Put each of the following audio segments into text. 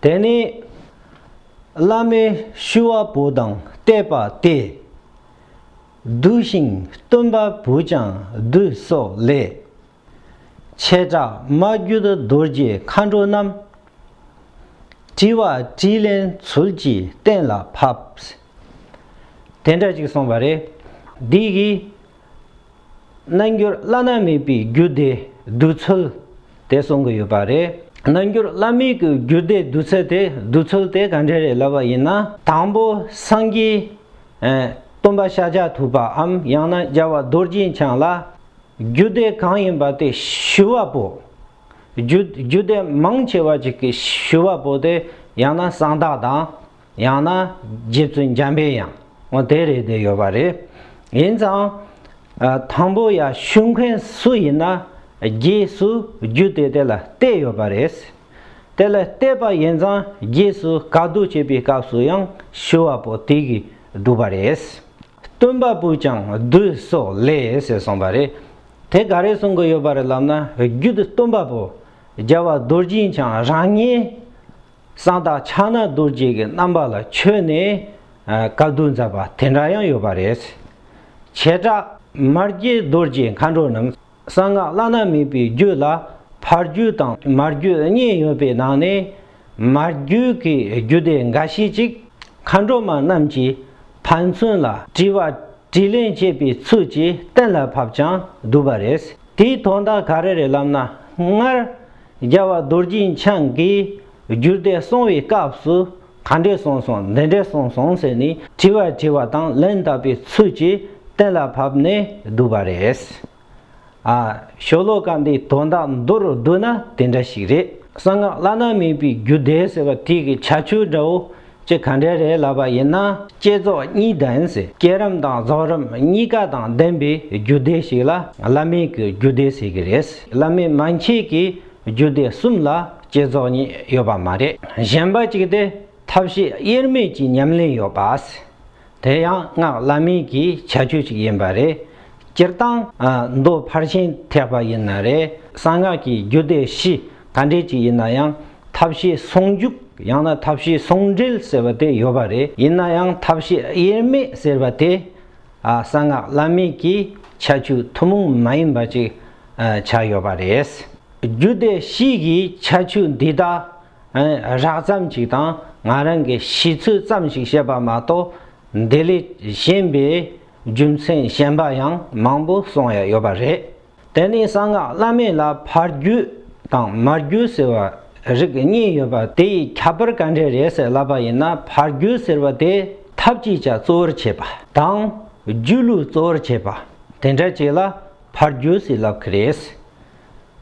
དེ་ནི་བླ་མའི་ཤུ་བ་བུ་དང་བལྟས་པ་སྟེ། བསྡུ་ཞིང་སྟོན་པ་བུ་ཅང་བསྡུ་སོགས་ལས། བྱེ་བྲག་མ་རྒྱུད་རྡོ་རྗེ་མཁའ་འགྲོ་རྣམས། དྲི་བ་དྲིས་ལན་ཚུལ་གྱིས་གཏན་ལ་ཕབས། དེ་འདྲ་ཅིག་གསུངས་པ་རེད། འདི་ཡི། རྣལ་འབྱོར་བླ་ན་མེད་པའི་རྒྱུད་སྡེ་བསྡུས་ཚུལ་དེ་གསུང་གི་ཡོད་པ་རེད། རྣལ་འབྱོར་བླ་མེད་ཀྱི་རྒྱུད་སྡེ་བསྡུས་ཚད་དེ་བསྡུས་ཚུལ་དེ་ག་འདྲས་རེད་ལབ་པ་ཡིན་ན། དང་པོ་སངས་རྒྱས། སྟོན་པ་ཤཱཀྱ་ཐུབ་པའམ་ཡང་ན་རྒྱལ་བ་རྡོ་རྗེ་འཆང་ལ། རྒྱུད་སྡེ་གང་ཡིན་པ་དེ་ཞུ་བ་པོ། རྒྱུད་སྡེ་མང་ཆེ་བ་ཅིག་གི་ཞུ་བ་པོ་དེ་ཡང་ན་གསང་བདག་དང། ཡང་ན་རྗེ་བཙུན་འཇམ་པའི་ཡང་ངོ་དེ་རེད་དེ་ཡོད་པ་རེད། ཡིན་ཙང། དང་པོ་ཡང་ཤུལ་མཁན་སུ་ཡིན་ན་རྗེས་སུ་རྒྱུད་དེ་དེ་ལ་གཏད་ཡོད་པ་རེད། དེ་ལ་གཏད་པ་ཡིན་ཙང་རྗེས་སུ་བཀའ་བསྡུ་བྱེད་པའི་སྐབས་སུ་ཡང་ཞུ་བ་པོ་དེ་གིས་བསྒྲུབས་པ་རེད། སྟོན་པ་པོས་ཀྱང་བསྡུ་སོགས་ལས་ཞེས་གསུངས་པ་རེད། དེ་ག་རེ་གསུང་གི་ཡོད་པ་རེད་ལབ་ན་རྒྱུད་སྟོན་པ་པོ་རྒྱལ་བ་རྡོ་རྗེའི་འཆང་རང་ཉིད། གསང་བདག་ཕྱག་ན་རྡོ་རྗེ་གི་རྣམ་པ་ལ་མཆོད་ནས་བཀའ་བསྡུ་མཛད་པ་དེ་འདྲ་ཡང་ཡོད་པ་རེད། བྱེ་བྲག་མར་རྒྱས་རྡོ་རྗེ་མཁའ་འགྲོ་རྣམས་གསང་སྔགས་བླ་ན་མེད་པའི་རྒྱུད་ལ་ཕ་རྒྱུད་དང་མ་རྒྱུད་གཉིས་ཡོད་པའི་ནང་ནས་མ་རྒྱུད་ཀྱི་རྒྱུད་སྡེ་འགའ་ཤས་ཅིག་མཁའ་འགྲོ་མ་རྣམས་ཀྱིས་ཕན་ཚུན་ལ་དྲི་བ་དྲིས་ལན་བྱེད་པའི་ཚུལ་གྱིས་གཏན་ལ་ཕབ་ཀྱང་འདུག་པ་རེད། དེའི་དོན་དག་ག་རེ་རེད་ལབ་ན་སྔར་རྒྱལ་བ་རྡོ་རྗེ་འཆང་གིས་རྒྱུད་སྡེ་གསུང་བའི་སྐབས་སུ་ག་འདྲས་གསུངས་སོང་འདི་འདྲས་གསུངས་སོང་ཟེར་ནས་དྲི་བ་དྲིས་པ་དང་ལན་བཏབ་པའི་ཚུལ་གྱིས་གཏན་ལ་ཕབ་ནས་བསྡུས་པ་རེད། ཨ། ཤོ་ལོ་ཀ་འདི་དོན་དག་མདོ་རུ་བསྡུ་ན་དེ་འདྲ་ཞིག་རེད། གསང་སྔགས་བླ་ན་མེད་པའི་རྒྱུད་སྡེ་ཟེར་བ་དེ་གི་བྱ་ཆོས་འདྲ་བོ། ཅི་ག་འདྲས་རེད་ལབ་པ་ཡིན་ན་བསྐྱེད་རྫོགས་གཉིས་ལྡན་ཟེར་བསྐྱེད་རིམ་དང་རྫོགས་རིམ་གཉིས་ཀ་དང་ལྡན་པའི་རྒྱུད་སྡེ་ཞིག་ལ་བླ་མེད་ཀྱི་རྒྱུད་སྡེ་ཟེར་གྱི་རེད་བླ་མེད་མན་ཆད་ཀྱི་རྒྱུད་སྡེ་གསུམ་ལ་བསྐྱེད་རྫོགས་གཉིས་ཡོད་པ་མ་རེད་གཞན་པ་གཅིག་སྟེ་ཐབས་ཤེས་དབྱེར་མེད་ཀྱི་ཉམས་ལེན་ཡོད་པ། དེ་ཡང་སྔགས་བླ་མེད་ཀྱི་བྱ་སྤྱོད་ཅིག་ཡིན་པ་རེད། སྤྱིར་བཏང། མདོ་ཕར་ཕྱིན་ཐེག་པ་ཡིན་ན་རེ་གསང་སྔགས་ཀྱི་རྒྱུད་སྡེ་བཞི་ག་འདྲས་ཅིག་ཡིན་ན་ཡང་ཐབས་ཤེས་ཟུང་འཇུག་ཡང་ན་ཐབས་ཤེས་ཟུང་འབྲེལ་ཟེར་བ་དེ་ཡོད་པ་རེད་ཡིན་ན་ཡང་ཐབས་ཤེས་དབྱེར་མེད་ཟེར་བ་དེ། གསང་སྔགས་བླ་མེད་ཀྱི་བྱ་སྤྱོད་ཐུན་མོང་མ་ཡིན་པ་ཅིག་ཆགས་ཡོད་པ་རེད། རྒྱུད་སྡེ་བཞི་ཡི་བྱ་སྤྱོད་འདི་དག་རགས་ཙམ་ཅིག་དང་ང་རང་གི་ཤེས་ཚུལ་ཙམ་ཞིག་བཤད་པ་མ་གཏོགས་འདི་ལས་གཞན་པའི་རྒྱུ་མཚན་གཞན་པ་ཡང་མང་པོ་གསུང་ཡ་ཡོད་པ་རེད། དེ་ནི་གསང་སྔགས་བླ་མེད་ལ་ཕར་རྒྱུད་དང་མར་རྒྱུད་ཟེར་བ་རིགས་གཉིས་ཡོད་པ་དེ་ཡི་ཁྱད་པར་ག་འདྲས་རེད་ཟེར་ལབ་པ་ཡིན་ན་ཕར་རྒྱུད་ཟེར་བ་དེ་ཐབས་ཀྱི་ཆ་གཙོ་བོར་བྱས་པ་དང་རྒྱུད་ལུས་གཙོ་བོར་བྱས་པ་དེ་འདྲ་ཅིག་ལ་ཕར་རྒྱུད་ཟེར་ལབ་ཀི་རེད།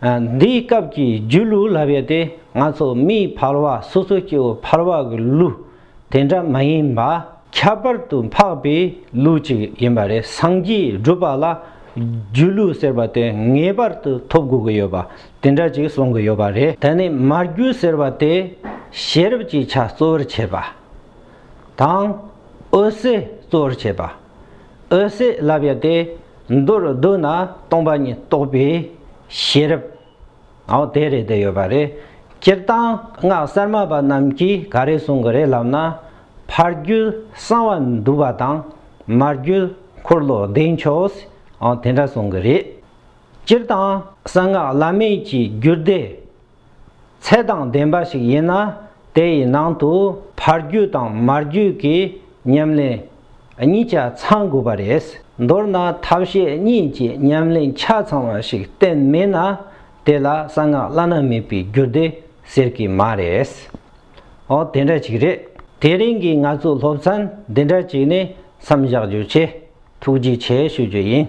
འདིའི་སྐབས་ཀྱི་རྒྱུད་ལུགས་ལབ་ཡོད་དེ་ང་ཚོ་མིའི་འཕར་བ་སོ་སོའི་སྐྱེ་བོ་འཕར་བ་གི་ལུགས་དེ་འདྲ་མ་ཡིན་པ་ཁྱད་པར་དུ་འཕགས་པའི་ལུགས་གཅིག་ཡིན་པ་རེད་སངས་རྒྱས་སྒྲུབ་པ་ལ་རྒྱུད་ལུགས་ཟེར་བ་དེ་ངེས་པར་དུ་ཐོབ་དགོས་ཀྱི་ཡོད་པ་དེ་འདྲ་ཅིག་གསུང་གི་ཡོད་པ་རེད། ད་ནི་མར་རྒྱུད་ཟེར་བ་དེ་ཤེས་རབ་ཀྱི་ཆ་གཙོ་བོར་བྱས་པ་དང་འོད་གསལ་གཙོ་བོར་བྱས་པ། འོད་ཟེར་བརླབས་ཡོད་དེ། མདོར་བསྡུ་ན་སྟོང་པ་ཉིད་རྟོགས་པའི་ཤེས་རབ། འོ་དེ་རེད་དེ་ཡོད་པ་རེད། སྤྱིར་བཏང་སྔགས་གསར་མ་པ་རྣམས་ཀྱིས་ག་རེ་གསུང་གི་རེད་ལབ་ན། ཕ་རྒྱུད་གསང་བ་འདུས་པ་དང་མ་རྒྱུད་འཁོར་ལོ་བདེ་མཆོག། འོ་དེ་འདྲ་གསུང་གི་རེད། སྤྱིར་བཏང་གསང་སྔགས་བླ་མེད་ཀྱི་རྒྱུད་སྡེ། ཚད་དང་ལྡན་པ་ཞིག་ཡིན་ན་དེ་ཡི་ནང་དུ་ཕར་རྒྱུད་དང་མར་རྒྱུད་ཀྱི་ཉམས་ལེན་གཉིས་ཆ་ཚང་དགོས་པ་རེད། མདོར་ན་ཐབས་ཤེས་གཉིས་ཀྱི་ཉམས་ལེན་ཆ་ཚང་བ་ཞིག་བསྟན་མེད་ན་དེ་ལ་གསང་སྔགས་བླ་ན་མེད་པའི་རྒྱུད་སྡེ་ཟེར་གི་མ་རེད། འོ་དེ་འདྲ་ཅིག་རེད། དེ་རིང་གི་ང་ཚོའི་སློབ་ཚན་འདི་འདྲ་ཅིག་ནས་མཚམས་བཞག་རྒྱུ་བྱས། ཐུགས་རྗེ་ཆེ་ཞུ་རྒྱུ་ཡིན།